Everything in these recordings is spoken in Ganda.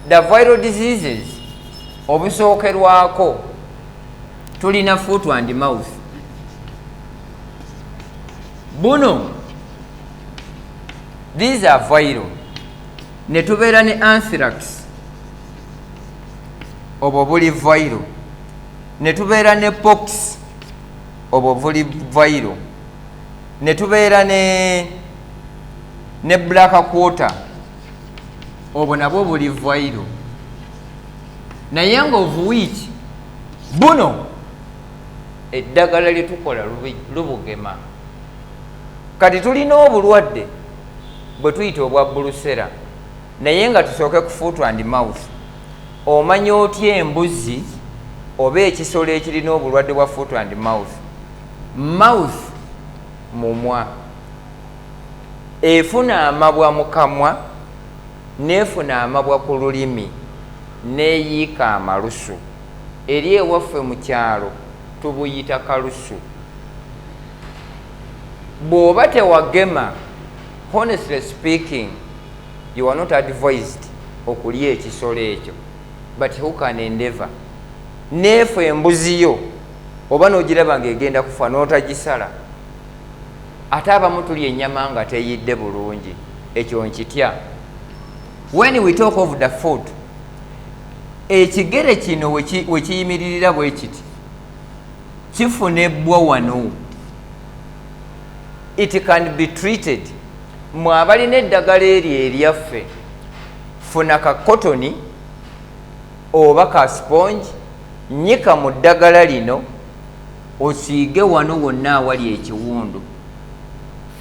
the viral diseases obusookerwako tulina foot and mouth buno these are viral ne tubeera ne anthrax obwo buli viral ne tubeera ne pox obwo buli viral ne tubeera ne ne black quarter obwo nabwo buli vairu naye nga ovuwiiki buno eddagala lyetukola lubugema kati tulina obulwadde bwe tuyita obwa bulusera naye nga tusooke ku foot and mouth omanya otya embuzi oba ekisolo ekirina obulwadde bwa foot and mouth mouth mumwa efuna amabwa mu kamwa n'efuna amabwa ku lulimi n'eyiika amalusu. Eri ewaffe mu kyalo tubuyita kalusu. Bw'oba tewagema, honestly speaking, you are not advised okulya ekisolo ekyo but who can endeavour neefu embuzi yo oba n'ogiraba ng'egenda kufa n'otagisala. ate abamu tulya enyama nga teyidde bulungi ekyo nkitya when we talk of the food ekigere kino wekiyimiririra bwekiti kifuna ebbwa wano it can be treated mwe abalina eddagala eryo eryaffe funa ka kotoni oba ka sponge nyika mu ddagala lino osiige wano wonna awali ekiwundu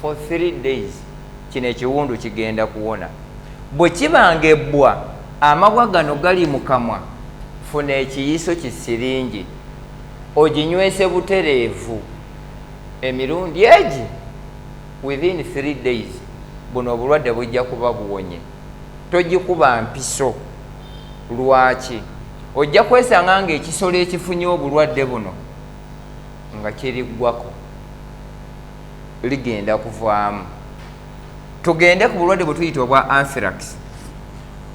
for three days kino ekiwundu kigenda kuwona bwe kiba nga ebbwa amabwa gano gali mu kamwa funa ekiyiso ki siringi oginywese butereevu emirundi egi within three days buno obulwadde bujja kuba buwonye togikuba mpiso. Lwaki? Ojja kwesanga ng'ekisolo ekifunye obulwadde buno nga kiriggwako, ligenda kuvaamu. Tugende ku bulwadde bwe tuyita obwa anthrax.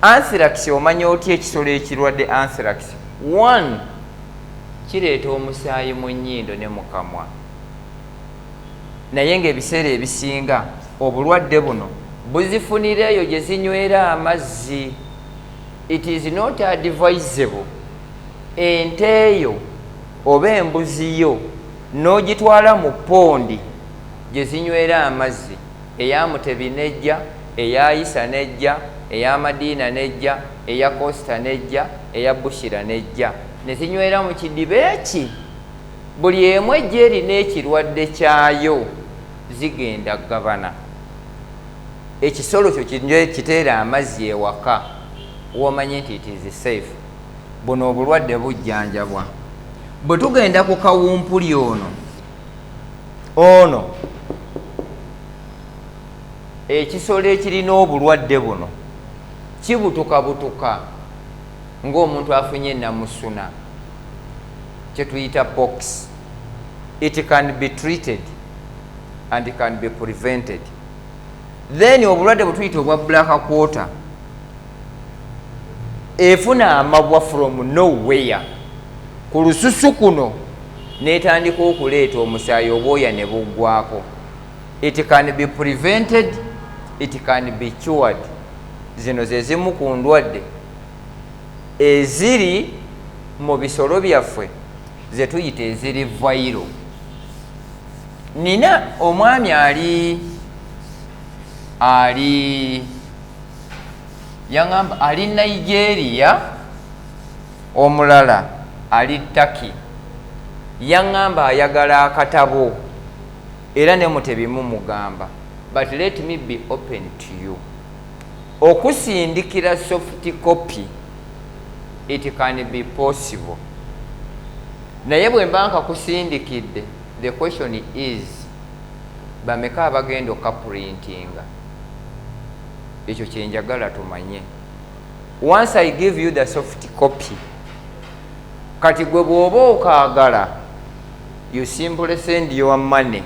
Anthrax omanya otya ekisolo ekirwadde anthrax? One, kireeta omusaayi mu nnyindo ne mu kamwa. naye ng'ebiseera ebisinga obulwadde buno buzifunira eyo gye zinywera amazzi. It is not advisable ente yo oba embuzi yo n'ogitwala mu ppondi gye zinywera amazzi eya Mutebi n'ejja, eya Isa n'ejja, eya Madiina n'ejja, eya Costa n'ejja, eya Bushira n'ejja ne zinywera mu kidiba eki. Buli emu ejja erina ekirwadde kyayo zigenda gabana ekisolo kyo kiteere amazzi ewaka womanye nti it is safe buno obulwadde bujjanjabwa bwe tugenda ku kawumpuli ono ono ekisolo ekirina obulwadde buno kibutuka butuka ng'omuntu afunye namusuna kyetuyita pox it can be treated and can be prevented then obulwadde bwetuyita obwa black quarter efuna amabwa from nowhere ku lususu kuno netandika okuleeta omusaayi obwoya ne buggwako it can be prevented it can be cured zino zezimu ku ndwadde eziri mu bisolo byaffe ze tuyita eziri vayiro nina omwami ali ali yaŋamba ali nigeria omulala ali taki yaŋamba ayagala akatabo era ne mutebimu mugamba but let me be open to you Okusindikira soft copy it can be possible naye bwemba nkakusindikidde the question is bameka abagenda okukaprintinga ekyo kyenjagala tumanye once i give you the soft copy kati gwe bwoba okaagala you simply send your money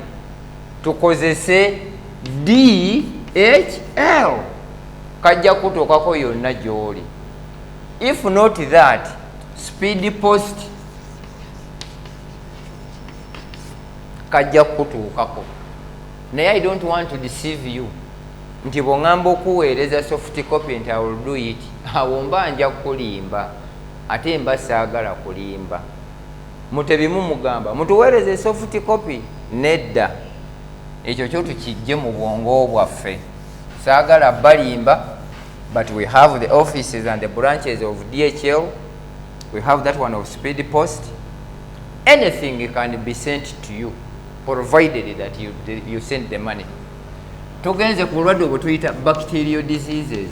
tukozese dhl kajja kutuukako yonna gy'oli if not that speed post kajja kutuukako naye i don't want to deceive you nti bwongamba okuweereza soft copy nti iwill do it awo mba nja kukulimba ate mba saagala kulimba mutebi mumugamba mutuweereze soft copy nedda ekyo kyo tukijje mu bwongo bwaffe saagala balimba but we have the offices and the branches of dhl we have that one of speed post anything can be sent to you provided that you, you send the money tugenze ku bulwadde obwetuyita bacterial diseases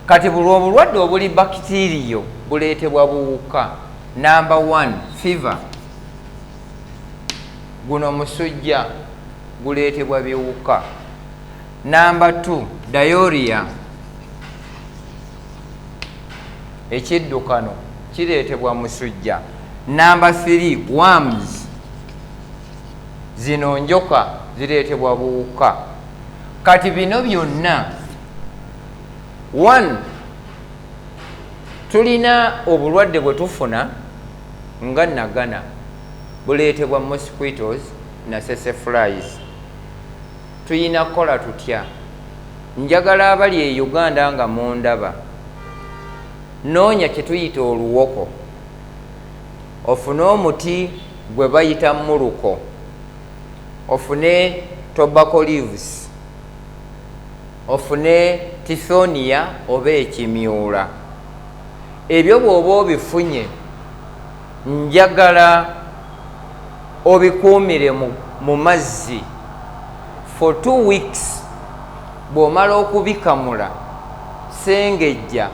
kati bulwa obulwadde obuli bakitiriyo buleetebwa buwuka number one fever guno musujja guleetebwa biwuka namba t dayoriya ekiddukano kireetebwa musujja namba th wams zino njoka zireetebwa buwuka kati bino byonna one tulina obulwadde bwe tufuna nga nagana buleetebwa mosquitos nasese flies tuyina kukola tutya njagala abali e uganda nga mundaba noonya kyetuyita oluwoko ofune omuti gwe bayita muluko ofune tobacco leaves ofune tisonia oba ekimyula ebyo bwoba obifunye njagala obikuumire mu mazzi for two weeks bw'omala okubikamula sengejja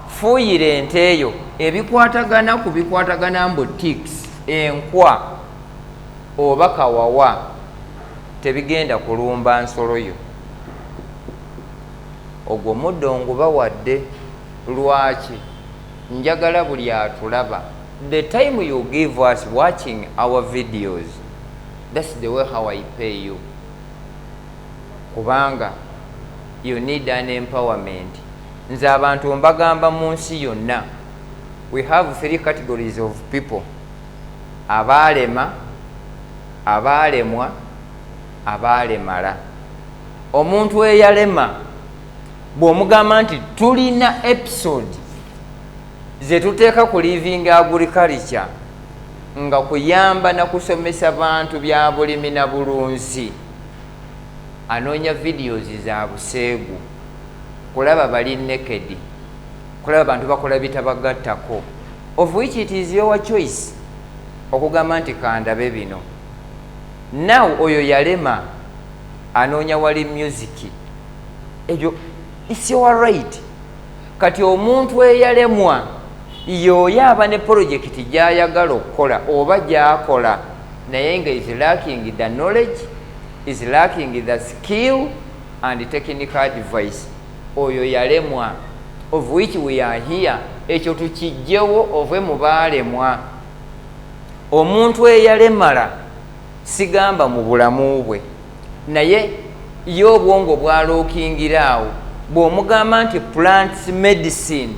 fuuyira ente eyo ebikwatagana ku bikwatagana mbu tics enkwa oba kawawa tebigenda kulumba nsolo yo ogwo muddo ngubawadde lwaki njagala buli atulaba the time you give us watching our videos thats the way how i pay you kubanga you need an empowerment nze abantu mbagamba mu nsi yonna we have three categories of people abaalema Abaalemwa, abaalemala. Omuntu eyalema bw'omugamba nti tulina episode ze tuteeka ku living agriculture nga kuyamba na kusomesa bantu bya bulimi na bulunzi anoonya videos za buseegu kulaba bali nekedi kulaba abantu bakola bitabagattako of which it is your choice okugamba nti kandabe bino now oyo yalema anoonya wali musiki ebyo its your right kati omuntu eyalemwa yooyo aba ne polojekiti gyayagala okukola oba gyakola naye nga is lacking the knowledge is lacking the skill and technical advice oyo yalemwa of which we are here ekyo tukijjewo ove mu baalemwa omuntu eyalemala sigamba mu bulamu bwe naye ye obwongo bwalookingira awo bw'omugamba nti plants medicine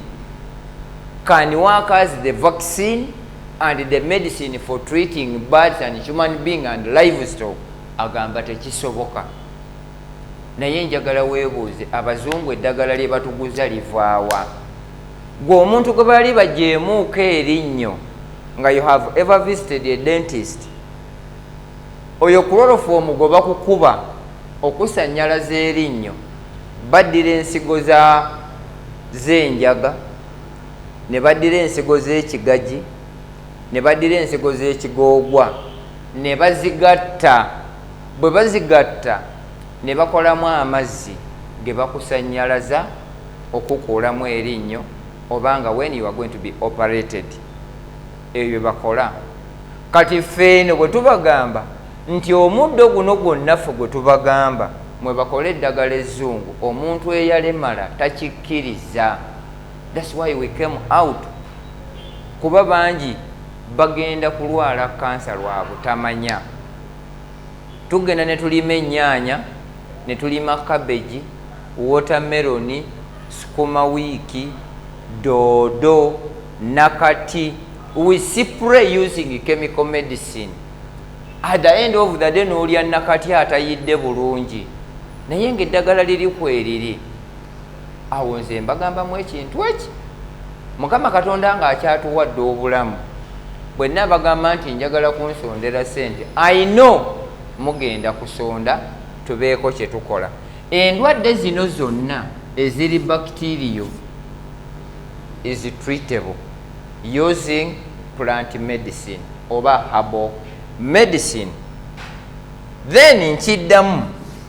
can work as the vaccine and the medicine for treating birds and human being and livestock agamba tekisoboka Naye njagala webuuze abazungu eddagala lyebatuguza livaawa? Gwe omuntu gwe baali bajeemuuko erinnyo nga you have ever visited a dentist? Oyo kulolofomu gwe bakukuba okusanyalaza erinnyo baddira ensigo z'enjaga ne baddira ensigo z'ekigaji ne baddira ensigo z'ekigoogwa ne bazigatta bwe bazigatta ne bakolamu amazzi ge bakusannyalaza okukuulamu erinnyo oba nga when you are going to be operated ebyo bye bakola kati ffe eno bwe tubagamba nti omuddo guno gwonna ffe gwe tubagamba mwe bakole eddagala ezzungu omuntu eyalemala takikkiriza thats why we came out kuba bangi bagenda kulwala kansa lwa butamanya. Tugenda ne tulima ennyaanya, ne tulima kabegi, wootameroni, sukuma wiiki, doodo, nakati, we spray using chemical medicine at the end of the day n'olya nakati atayidde bulungi naye ng'eddagala liri kweriri. awo nze mbagambamu ekintu eki mukama katonda nga akyatuwadde obulamu bwenna abagamba nti njagala kunsondera sente i know mugenda kusonda tubeeko kyetukola endwadde zino zonna eziri bacterio is treatable using plant medicine oba habo medicine then nkiddamu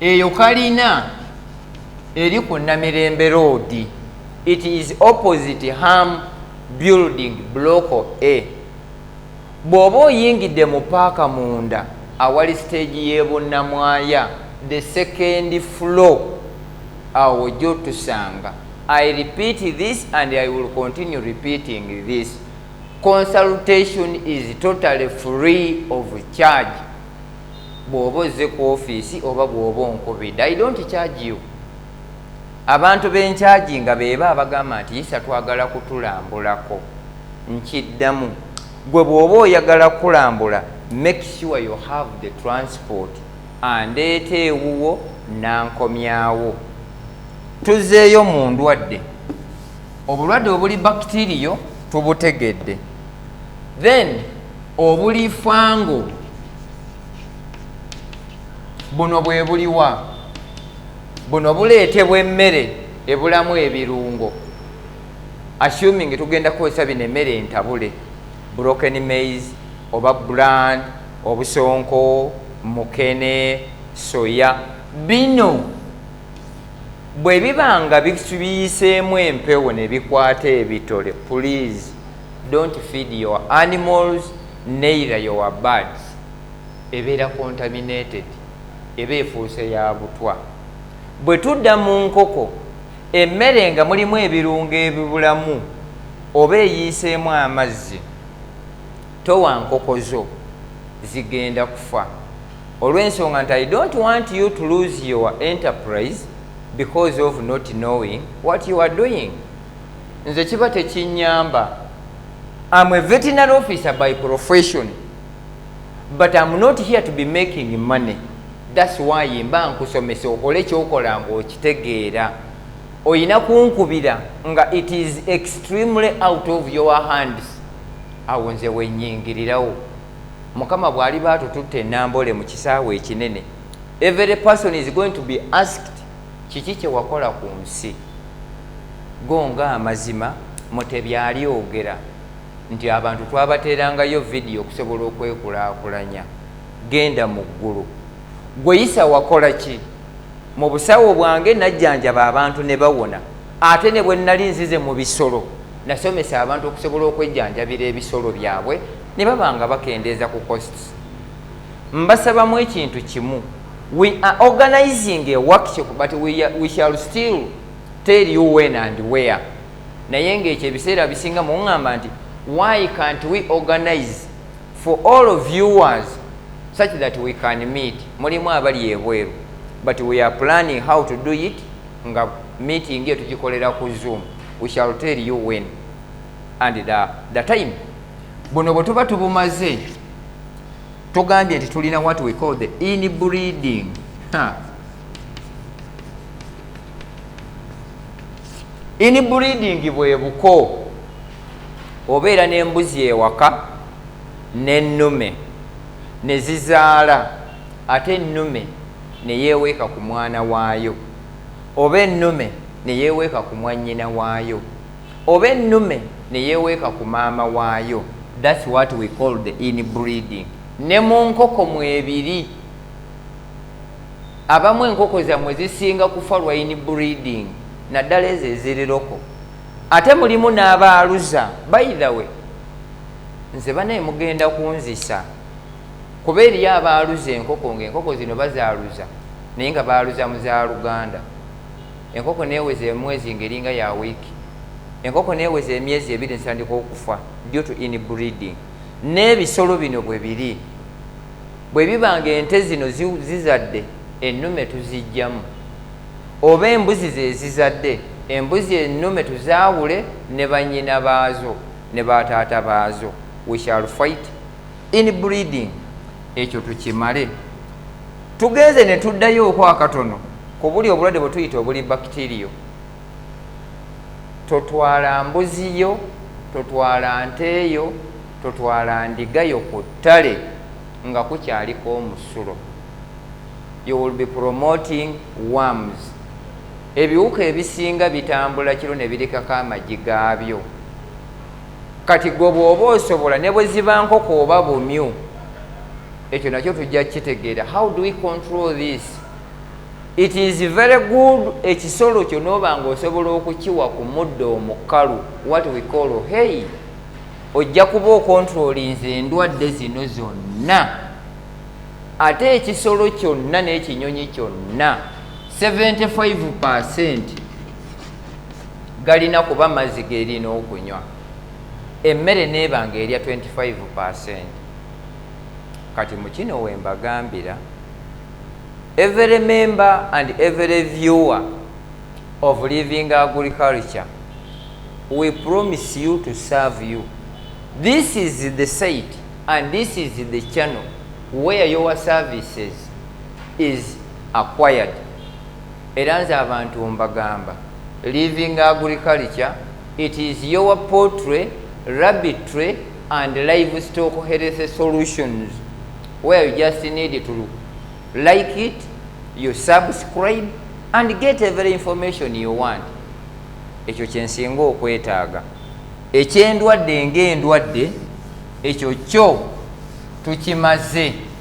eyo kalina eri ku namirembe roodi it is opposite ham building bloco a bw'oba oyingidde mu paaka munda awali siteegi y'ebunnamwaya the second floor awo gyotusanga i repeat this and i will continue repeating this consultation is totally free of charge bwoba ozze ku ofiisi oba bwoba onkubidde i don't charge you abantu benkyagi nga beba abagamba nti isa twagala kutulambulako nkiddamu gwe bwoba oyagala kulambula make sure you have the transport andeeta ewuwo nankomyawo tuzeeyo mu ndwadde obulwadde obuli bakitiriyo tubutegedde then obulifango buno bwebuliwa buno buleetebwa emmere ebulamu ebirungo assuming tugenda kukozesa bino emmere entabule broken mais oba bran obusonko mukene soya bino bwe biba nga biyiseemu empewo ne bikwata ebitole please don't feed your animals neither your birds ebeera contaminated eba efuuse ya butwa bwe tudda mu nkoko emmere nga mulimu ebirungo ebibulamu oba eyiiseemu amazzi towa nkoko zo zigenda kufa olw'ensonga nti i don't want you to lose your enterprise because of not knowing what you are doing nze kiba tekinyamba am a veterinary officer by profession but am not here to be making money thats why mba nkusomesa okole kyokola nga okitegeera oyina kunkubira nga it is extremely out of your hands awo nze wenyingirirawo mukama bwaliba atututte enambole mu kisaawe ekinene every person is going to be asked Kiki kye wakola ku nsi? Go nga amazima Mutebi alyogera nti abantu twabateerangayo vidiyo okusobola okwekulaakulanya. Genda mu ggulu. Ggwe Yisa wakola ki? Mu busawo bwange najjanjaba abantu ne bawona. Ate ne bwe nnali nzize mu bisolo, nasomesa abantu okusobola okwejjanjabira ebisolo byabwe ne baba nga bakendeeza ku costs. Mbasabamu ekintu kimu. We are organizing a workshop but we, are, we shall still tell you when and where. Naye ng'ekyo ebiseera bisinga mungamba nti why can't we organize for all viewers such that we can meet mulimu abali ebweru but we are planning how to do it nga meeting eyo tugikolera ku zoom we shall tell you when and the, the time buno bwe tuba tubumaze tugambye nti tulina what we call the inbreeding inbreeding bwe buko obeera n'embuzi ewaka n'ennume ne zizaala ate ennume ne yeeweeka ku mwana waayo oba ennume ne yeeweeka ku mwannyina waayo Oba ennume neyeweeka ku maama waayo that's what we call the in breeding ne mu nkoko mwebiri abamu enkoko zamwe zisinga kufa lwa in breeding naddala ezo eziriroko ate mulimu n'abaaluza by the way nze banaye mugenda kunzisa kuba eriyo abaaluza enkoko nga enkoko zino bazaaluza naye nga baaluza mu za luganda Enkoko n'eweza emwezi nga eringa ya wiiki. Enkoko n'eweza emyezi ebiri netandika okufa due to inbreeding. N'ebisolo bino bwe biri. Bwe biba nga ente zino zi, zizadde, ennume tuziggyamu. Oba embuzi ze zizadde, embuzi ennume tuzaawule ne bannyina baazo ne ba taata baazo. We shall fight. in breeding ekyo tukimale tugenze ne tuddayo okwakatono ku buli obulwadde bwe tuyita obuli bakitiriyo totwala mbuziyo totwala nteeyo totwala ndigayo ku ttale nga kukyaliko omusulo you will be promoting worms ebiwuka ebisinga bitambula kiro ne birikako amagi gaabyo kati gwe bwoba osobola ne bwe ziba nkoko oba bumyu ekyo nakyo tujja kukitegeera how do we control this it is very good ekisolo kyo nooba nga osobola okukiwa ku muddo omukalu what we call hey ojja kuba okontrolinze endwadde zino zonna ate ekisolo kyonna n'ekinyonyi kyonna 75 percent galina kuba mazzi gerina okunywa emmere neeba nga erya 25 percent kati mukino wembagambira every member and every viewer of living agriculture we promise you to serve you this is the site and this is the channel where your services is acquired era nze abantu mbagamba living agriculture it is your poultry, rabbitry and livestock health solutions where you just need to like it you subscribe and get every information you want ekyo kyensinga okwetaaga ekyendwadde ngaendwadde ekyo kyo tukimaze